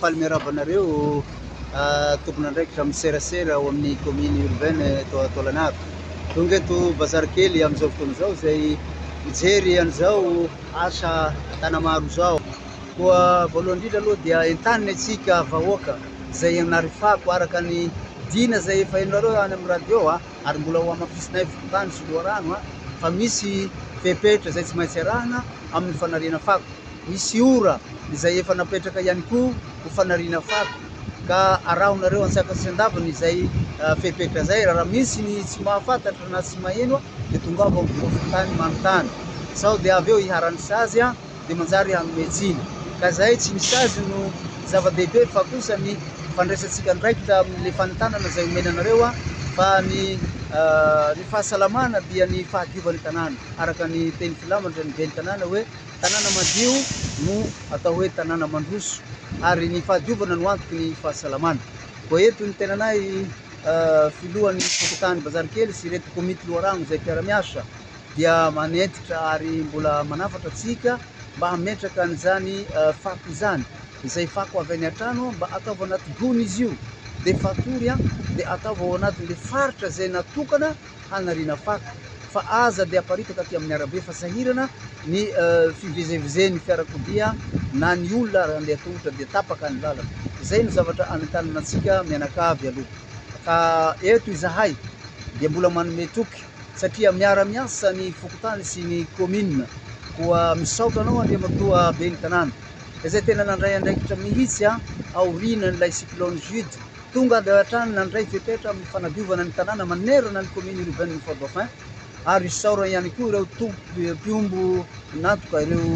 Faly miarahaba anareo tompon'andraikitra amin'ny serasera ao amin'ny commune urbaine eto Taolagnaro. Tonga eto bazary kely amin'izao fotoana izao izay mijery an'izao asa tanamaro izao. Koa voalohany indrindra aloha dia entanina itsika vahoaka izay narifako araka ny dina izay efa henonareo any amin'ny radio. ary mbola ho hamafisinay volontany sy loharano fa misy fepetra izay tsy maintsy arahina amin'ny fanariana fako. Misy ora izay efa napetraka ihany koa ho fanariana fako ka arahonareo an-tsakany sy an-davany izay fepetra izay. Raha misy ny tsy mahafantatra na tsy maheno dia tongava ao amin'ny biraom-volontany manontany sao dia avy eo iharan'ny sazy. dia manjary hanome tsiny. Ka izay tsy misy azy no zava-dehibe fa kosa ny fandraisantsika andraikitra amin'ilay fanentanana izay omena anareo an! fa ny ny fahasalamana dia ny fahadiovan'ny tanàna araka ny teny filamatra ny ben'ny tanàna hoe tanàna madio no atao hoe tanàna mandroso ary ny fahadiovana no antoky ny fahasalamana koa eto ny tenanay filohan'ny fokontany bazarikely sy ireto komity loharano izay mpiara-miasa dia manentitra ary mbola manafatra antsika mba hametraka an'izany fako izany. Izay fako avy any an-trano mba ataovy anaty gony izy io, dia fatory an, dia ataovy ao anatin'ilay faritra izay natokana hanariana fako, fa aza dia aparitaka aty amin'ny arabe fa sahirana ny fivezevezen'ny fiarakodia na ny olona raha handeha tongotra dia tapaka ny lalana. Izay no zavatra anentanana antsika mianakavy aloha. Ka eto izahay dia mbola manome toky. satria miara-miasa ny fokontany sy ny kaominina, koa misaotra anao Andriamatoa Ben'ny tanàna izay tena nandray andraikitra mihitsy aorianan'ilay cyclone Jude, tonga avy hatrany nandray fepetra amin'ny fanadiovana ny tanàna manerana ny kaominina urbaine Fort Dauphin, ary isaorany ihany koa ireo tompom-piombo nantoka ireo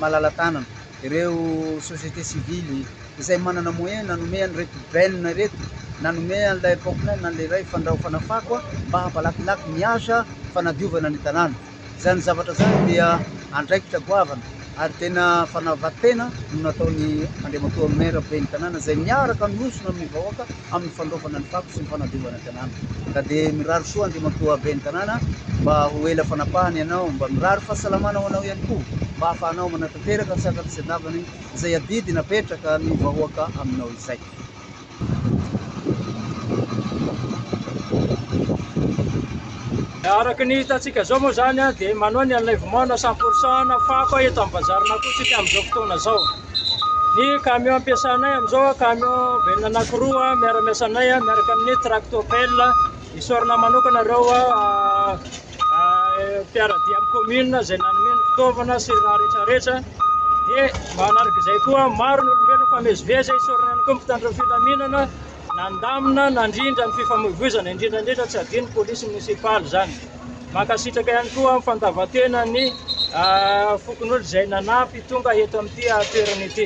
malala-tanana. ireo société civile izay manana moyen nanome an'ireto Ben ireto, nanome an'ilay Pocknell na an'ilay iray fandraofana fako mba hampalakilaky ny asa fanadiovana ny tanàna. Izany zavatra izany dia andraikitra goavana ary tena fanava-tena no nataon'ny Andriamatoa Maire ben'ny tanàna izay miaraka miosona amin'ny vahoaka amin'ny fandraofana ny fako sy ny fanadiovana ny tanàna. Ka dia mirary soa Andriamatoa Ben'ny tanàna mba ho ela fanapahana ianao, mba mirary fahasalamana ho anao ihany koa mba hahafahanao manatanteraka tsy an-katsetavana izay adidy napetraka ny vahoaka aminao izay. Araka ny hitantsika izao moa izany dia manohy ny an'ilay vomaona samporsan fako eto amin'ny bazarina koa isika amin'izao fotoana izao. Ny camion ampiasanay amin'izao camion ben anankiroa miara-miasa anay miaraka amin'ny tractopel. Isaorana manokana ireo mpiaradia amin'ny commune izay nanome ny fitaovana sy ny raha rehetrarehetra. Dia manaraka izay koa maro ny olombelona famezivezy isaorana ihany koa mpitandro ny filaminana nandamina nandrindra ny fifamoivoizana indrindra indrindra tsy adino ny polisy monisipaly izany. Mankasitraka ihany koa amin'ny fandavan-tena ny fokonolona izay nanampy tonga eto amin'ity toerana ity.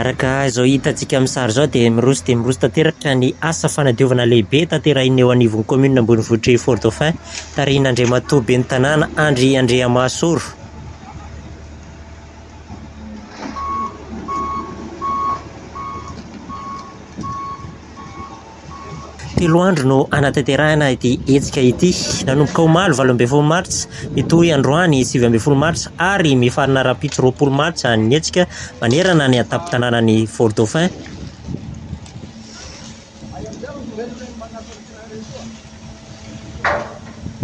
Araka izao hitantsika amin'ny sary izao dia miroso dia miroso tanteraka ny asa fanadiovana lehibe tanterahina eo anivon'ny kaominina ambonivohitr'i Fort Dauphin, tarihin'Andriamatoa ben'ny Tanàna Andry Andriamasoro. Telo andro no hanatanterahina ity hetsika ity. Nanomboka omaly valo ambin'ny folo martsa, hitohy androany sivy ambin'ny folo martsa ary mifarana rahampitso roapolo martsa ny hetsika manerana ny an-tampon-tanànan'i Fort-Dauphin.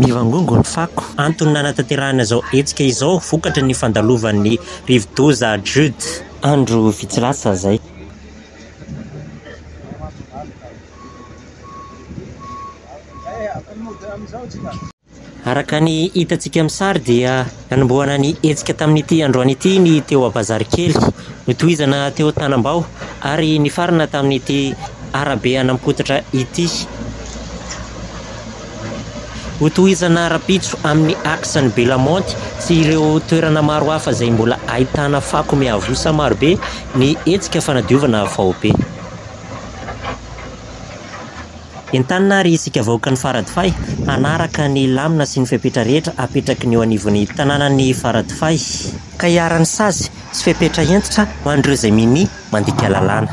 Mivangongo ny fako. Antony nanatanterahana izao hetsika izao vokatry ny fandalovan'ny rivodoza Jude, andro vitsy lasa izay. Araka ny hitantsika amin'ny sary dia nanombohana ny hetsika tamin'ity androany ity ny teo Abazarikely, notohizana teo Tanambao ary nifarana tamin'ity arabe an'Ampototra ity. Hotohizana rahampitso amin'ny axe ny Belamonte sy ireo toerana maro hafa izay mbola ahitana fako miavosa marobe ny hetsika fanadiovana faobe. Entanina àry isika vahoakan'i Faradofay hanaraka ny lamina sy ny fepetra rehetra apetraky ny eo anivon'ny tanànan'i Faradofay, ka hiharan'ny sazy sy fepetra hentitra ho an'ireo izay minia mandika lalàna.